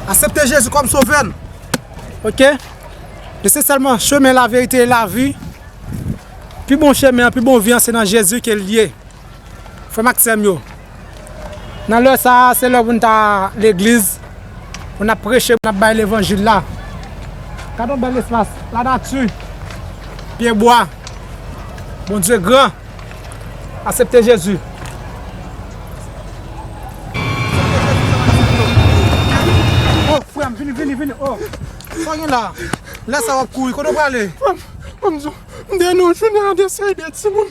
Asepte Jezi kòm sovè n ok e se sèlman chemen laverite e lavi pi bon chemen an pi bon vi an se nan Jezi ke l ye. Frè m ak sè m yo, nan lè sa a, se lè pou n ta legliz, pou n ap preche, pou n ap bay levanjil la. Gade yon bèl espas, lanati, pye bwa, Bondye gran, asepte Jezi. O, frè m, vini, vini, vini, o, sa w gen la a? Lè sa a w ap kouri, kote w prale? Frè m, frè m, m deyè nan yon jounen an de seri de timoun.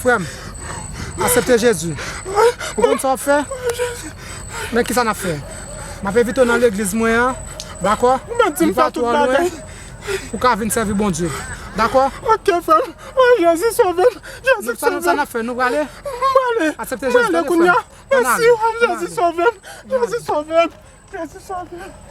Frèm asepte Jezi ou konn sa wap fè men kisa nap fè map envite w nan legliz mwen an dakò li pa twò lwen pou ka vin sèvi Bondye dakò sa nap fè nou prale asepte Jezi tande frèm ann ale ann ale